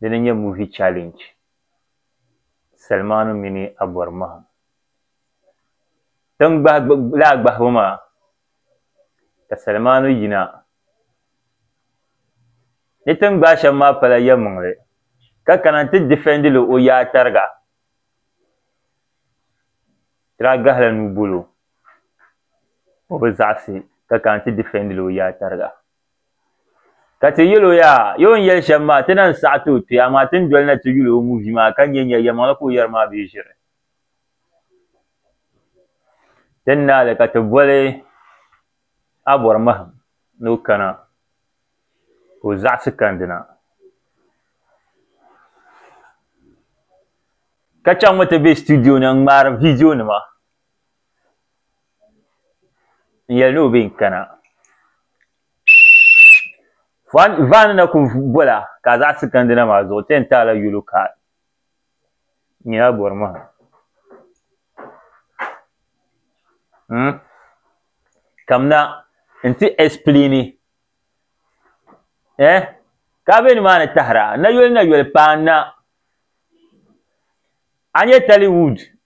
Dini n-nyɛ Movie Challenge, Salimaanu mini Abɔri mahim. Tiŋ laa gbahibu maa ka Salimaanu yina. Ni tiŋ gbahi shɛm maa pala yɛlimaŋli ka kana nti defend li o yaa tariga. Di daa gahila nuu bolo o bi zaɣisi ka kana nti defend li o yaa tariga. Ka ti yɛl o yaa, Yo n yɛli shɛm maa, ti na n-saɣi ti o kpe, amaa ti ni doli na ti yuli o ŋun vi maa ka nya nya yɛlimaŋli ka o yɛri maa bee ʒiri. Ti ni naai li ka ti boli a bɔri mahim ni o kana ka o zaɣisi kandi na. Ka chaŋmi ti be situdiyo ni n-ŋmaari viidiyonima. n yɛli ni o bɛ n kana vaani na ku bɔla ka a zaɣisi kandina maa zuɣu ti yɛn taala yolo ka nyina bɔri mahim hmm? kamina n ti ɛsiplini eh ka be nimaani tahira na yoli na yoli paanna a nyɛ Tollywood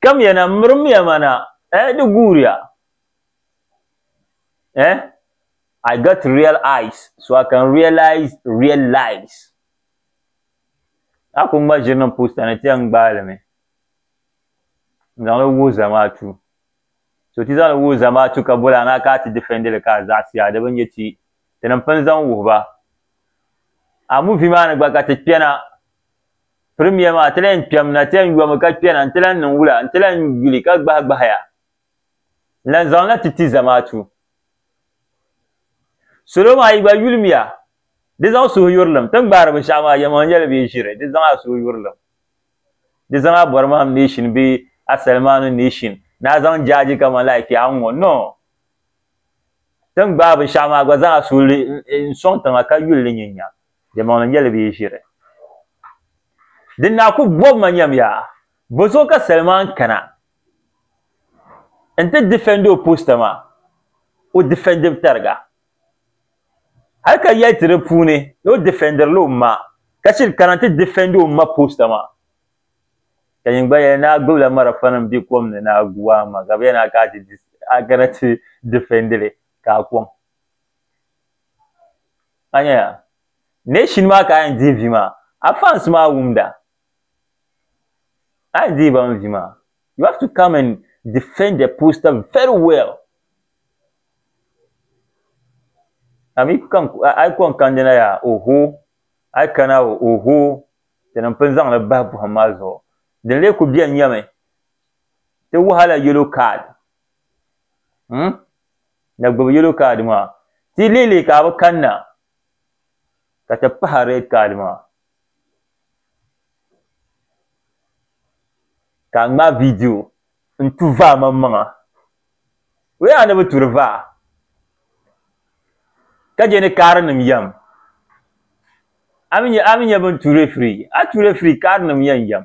Kamiya na, mirimiya ma na, eh, di guuriya. Eh, I got real eyes so I can realize real lies. A ku ŋma ʒiri niŋ poosta ni ti-yɛn gbaai li mi n-zaŋ li wuhi zamaatu. So ti zaŋ li wuhi zamaatu ka boli a na ka a ti difɛndi li ka a zaɣisi a di bi nya ti, tinim pini zaŋ wuhi ba. A muvi maa ni gba ka ti kpɛna. Premier maa ti lahi kpɛm na ti yɛn yomi ka kpɛna n-ti lahi niŋ wula n-ti lahi yuli ka gbahi gbahi ya n-lahi zaŋ na ti ti zamaatu salo maa yi gba yulim ya di zaŋ suhuyurilim ti ni gbaari binshɛɣu maa yɛlimaŋli nyɛla bɛ yi ʒiri di zaŋ a suhuyurilim di zaŋ a Bɔrimahim Nation bee a Salimaanu Nation ni a zaŋ jaaji kaman like kpɛ a ni ŋɔ no ti ni gbaai binshɛɣu maa gba zaŋ a suhili n-sɔŋ tiŋa ka yuli li nyin nya Diɛmaŋli nyɛla bɛ yi ʒiri. Di naa ku bɔbi ma nyam yaa, bɔ zuɣu ka Selman kana n-ti defend o post maa? O defend mi tariga. Hali ka yɛli ti di puuni ni o defendrila o ma, ka chiri kana n-ti defend o ma post maa. Ka yin gba yɛli ni a gbibila marafanim be kom ni ni a gu a ma, ka bɛ yɛli ni a kana ti defend li, ka a kɔŋ. Anya nation maa ka ayan dihi vi maa a fans maa wumda ayan dihi ban vi maa you have to come and defend the poster very well a mi kan a kon kandi na yaa oho a kana oho tini n pun zaŋli bahi buhim maa zuɣu din lee ku beni nyami ti wahala yellow card hmm? na gbubi yellow card maa ti lihili ka bi kanna ka ti pahi red card maa ka n ŋmaai video n tu vaa man maŋa o yaa ni bi turi vaa ka je ni kaari nim yam ami nye ami nye bin tu referee a tu referee kaari nim yan yam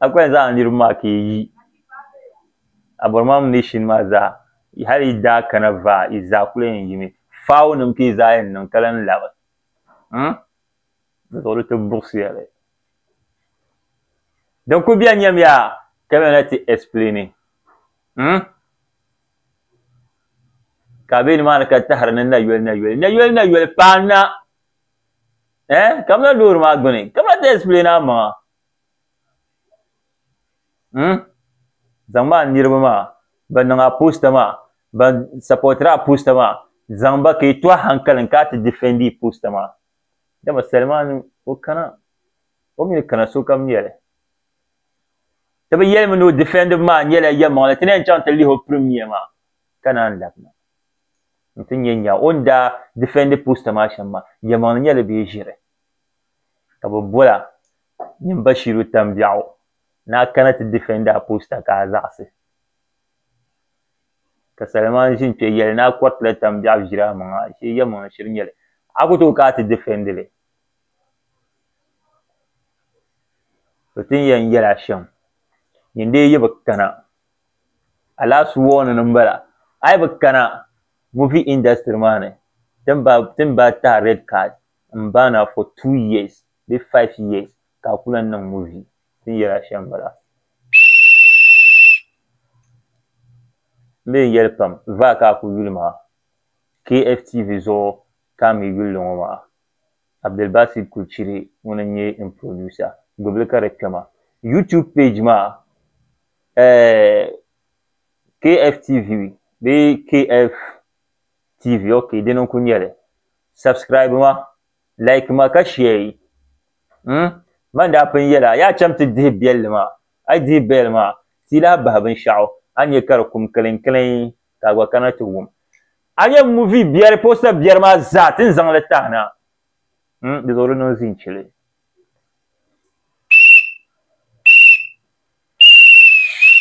a kuli zaŋ niriba maa ka yi aborimam nation maa zaa hali yi daa kana vaa yi zaa kuli yɛn yimi faawo nim ka yi zaa yɛn niŋ ka lan labi di zuɣu di ti buɣisiya li din kuli bɛni nyɛm yaa ka bɛ na ti explaini ka bɛ nimaani ka tahiri ni nayoli nayoli nayoli nayoli paana eh kamina loori maa gbuni kamina ti explain amaŋa hmm zaŋ maa niriba maa ban niŋ a poster maa ban supportiri a poster maa zaŋ ba ka yi to a hankalin ka a ti defend yi poster maa dama salimaani o kana o mi ni kana sokam nyɛli ti bi yɛlimi ni o defend bu maa nyɛla yɛlimaŋli ti ni yɛn chaŋ ti lihi o premier maa ka naan labina n ti nya nya o ni daa difɛndi posta maa shɛm maa, yɛlimaŋli nyɛla di bee ʒiri ka bɛ bola nyin Bashiru Tambiɛɣu ni a kana ti difɛndi a posta ka a zaɣisi. Ka Saliman ʒi n-kpe yɛli ni a kɔritila Tambiɛɣu ʒiri amaŋa ashee yɛlimaŋli shiri nyɛ li, a ku tooi ka a ti difɛndi li. Bɛ tin yɛn yɛl a shɛm, nyin dee yi bi kana Alaafsi warning n bala ayi bi kana movie industry maa ni tin ba tin ba tahi red card n ban na for two years bee five years ka a ku lan niŋ movie tin yɛli a shɛm n bala n bee yɛli pam vaa ka a ku yuli maa KFTV zuɣu ka a mi yulli ŋɔ maa Abdulbasit Kulchiri ŋun n nyɛ n producer gbubili ka di kpɛma YouTube page maa eh KFTV bee KFTV ok dini n ku nyɛli subscribe ma like ma ka share yi mm man daa pun yɛla yaa cham ti dihi bɛlli maa a yi dihi bɛlli maa ti yi lahi bahi binshɛɣu a ni nyɛ ka di kum kiliŋ kiliŋ ka a gba kana ti wum A nyɛ movie biɛri poster biɛri maa zaa ti ni zaŋ li tahi na mm di zuɣu di niŋ zin chili.